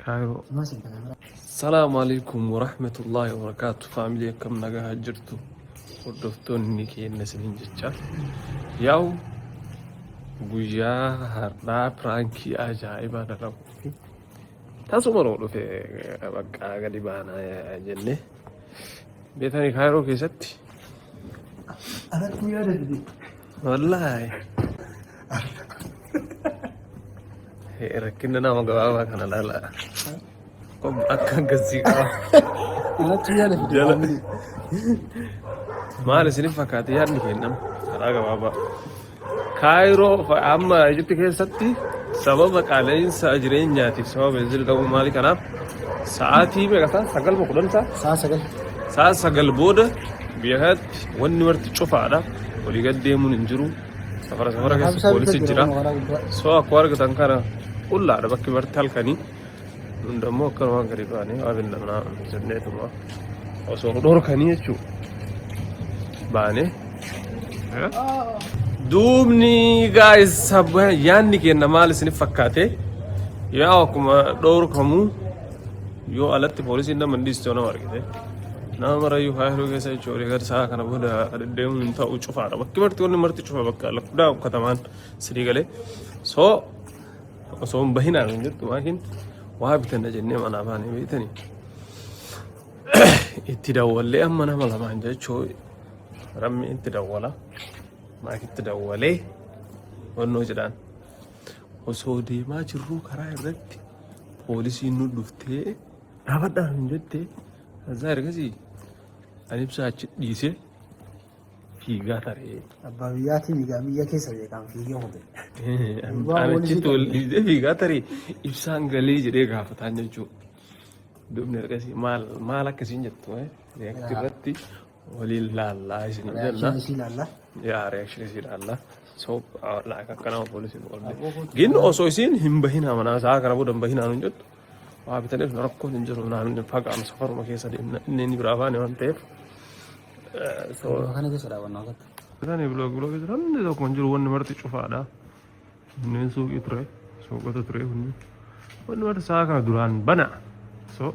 Kaayiroo. Salaamu alaikum warahmatullahi wabarakaatu faamilii akkam nagaa jirtu hordoftoonni keenya isiniin jecha yaa'u guyyaa har'aa piraankii ajaa'ibaa dalagu fi tasuma nuu dhufe bakka gadi baanaa jenne beetanii kaayiroo keessatti Alattuu yaada dide. Wallaahi. Rakkinni nama gabaabaa kana laala. Akka akkasii qaba. Anatti yaada fide. Jala. Maal isiniif fakkaate yaadni kennama karaa gabaabaa. Kaayiroo fa- amma Ijipti keessatti sababa qaala'insa jireenyaatiif sababa beenzil qabu maali kanaaf sa'aatii meeqa ta'a sagal moo kudhan ta'a Sa'a sagal. sa'a sagal booda biyya kanatti Wanni marti cufaadha. Walii gad deemuun hin jiru. Safara safara keessa poolisi jira. Soo akkuma argitan kana qullaadha bakki marti halkanii. Nun dammoo akka waan gadi baanee waa bindamnaa jenneetuma osoo nu dhorkanii jechuudha. Baanee. Duubni gaa'is yaadni keenya maal isiniif fakkaate? Yaa akkuma dhorkamuu. Yoo alatti poolisiin nama hin dhiistu nama argite. Nama marayyuu faayiruu keessa jechuun olii gadi sa'a kana booda deddeemuun hin ta'u cufaadha. Bakki marti wanni marti cufa bakka lakkudaa ukkatamaan sirii galee. So osoo hin bahinaan hin jettu maakiin waa bitanna jennee manaa baanee beektanii. Itti dawwallee amma nama lamaan jechuu rammi itti dawwala. Maakitti dawwalee wannoo jedhaan. Osoo deemaa jirruu karaa irratti poolisiin nu dhuftee dhaabadhaa hin jette azaa ergasii ani ibsaa achi dhiisee fiigaa taree. Abbaa biyyaatii fiigaa biyya keessa beekaan fiigee hubee. Ani achitti ol dhiisee fiigaa taree ibsaan galee jedhee gaafataan jechuudha. Dubni ergasii maal maal akkasiin jettu react irratti waliin laallaa isin Reaction isii ilaalla. yaa reaction isii ilaalla so like akkana poolisiin walde gin osoo isiin hin bahinaa manaa isaa kana booda hin bahinaa nun jettu waa bitaniif na rakkoon hin jiru naan hin fagaanu safaruma keessa deemna inni inni biraa baane waan ta'eef so Kana keessa daawwannaa akka. isaan biloog biloog jiran hundi tokko hin jiru wanni marti cufaadha Kunneen suuqii ture. Suuqota ture kunneen. Wanni warra sa'a kana duraan bana. So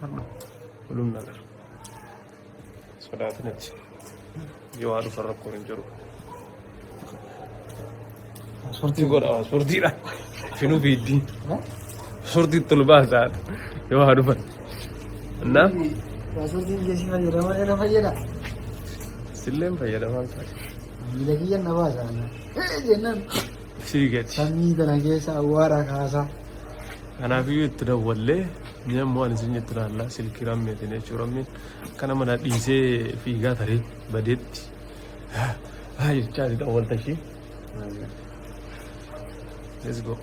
har'a walum nagar. Sodaatin achi. Yoo haa dhufan rakkoon hin jiru. Sortii godha sortiidha. Finuu fiiddii. Sortii tolu baasaa yoo haa dhufan. Kanaaf Paaspoortiin jeesii fayyadama irra fayyada. silleen fayyadamaan ta'a. Miila kiyya na baasa ana. Hee jennaan Sii gati. samii tana keessa awwaara kaasaa. Kanaafiyyuu itti dawwallee ni ammoo ani isin itti laallaa silkii rammeetiin jechuu rammiin akka nama na dhiisee fiigaa taree badeetti. Haa jechaa itti dawwalta ishee. Let's go.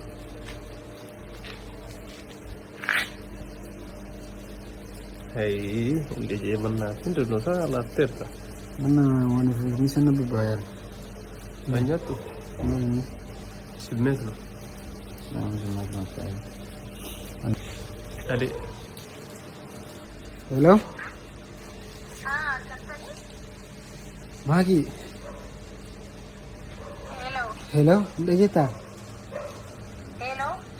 Hayii hundi jee mannaa fi dirnosaa laatteerta. Mana waan ofii sana bubbaayaan. Na nyaattu Namni simmees no. nama jimaa kan ta'e. Adee. Hello? Maagi. Hello. Hello? Dhageettaa?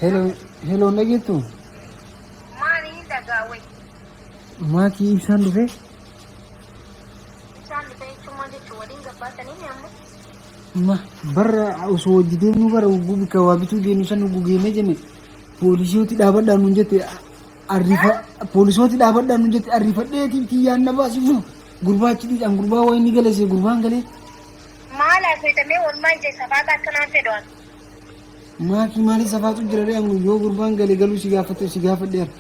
Hello, hello na jettu. Maali hin dhagaawwe? Maatii ibsaan dhufee? Ibsaan dhufee jechuun maal jechuun waliin gabbaatanii ni amma? Ma barra osoo hojii deemnu bara ugguu bika waa bituu deemnu san ugguu geemee jenne poolisooti dhaabadhaan nun jette arrifa poolisooti dhaabadhaan nun jette arrifadheetiin tiyyaan na baasifnu gurbaachi dhiidhaan gurbaa waa inni galese gurbaan galee. Maal haasayta mee walmaa ija isa faata akka naan fedhu an. Maaki maalii safaatu jira ree ammoo yoo gurbaan gale galuu si gaafate si gaafadheera.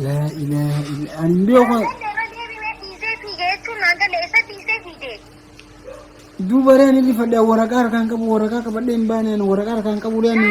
Laa ilaaha illa ani hin beeku kana. Duuba ree ani rifadhe waraqaa harkaan qabu waraqaa qabadhee hin baane ani waraqaa harkaan qabu ree ani.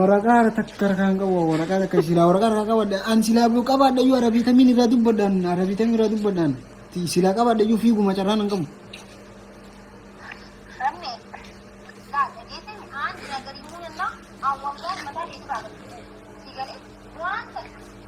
Waraqaa irra takka harkaan qabu waraqaa takka silaa waraqaa harkaa qabadha an silaa buu qabadha iyyuu arabiitamiin irraa dubbadhaan arabiitamiin irraa dubbadhaan silaa qabadha iyyuu fiiguma carraan hin qabu.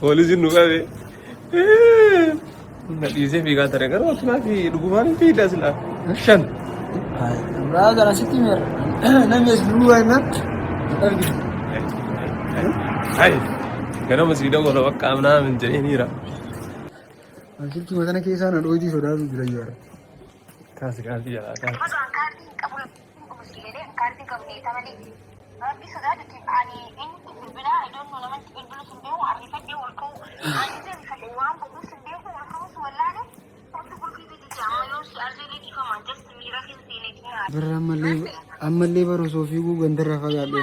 Poolisiin nu qabe. Na dhiisee fiigaa ture garuu akkanaa fi dhugumaan hin fiidaa silaa. Shan. Amraa gara sitti meera. Namni as buluu waayinaan argina. Hai. Ganama sii dawwala bakka amnaa min jedhee niira. Asitti matana keessaa na dhootii sodaatu jira yaara. Kaasi kaasi jalaa kaasi. Birra ammallee ammallee bara osoo fiiguu gandarraa fagaadhe.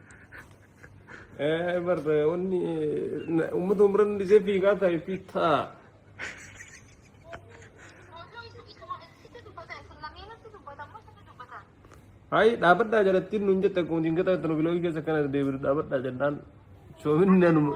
Barta wanni uummata umran dhisee fiigaa taa'e fi taa. Hayi dhaabadhaa jalattiin nuun jette akkuma jingata itti nu biloogii keessa kana deebiru dhaabadhaa jennaan soominni anuma.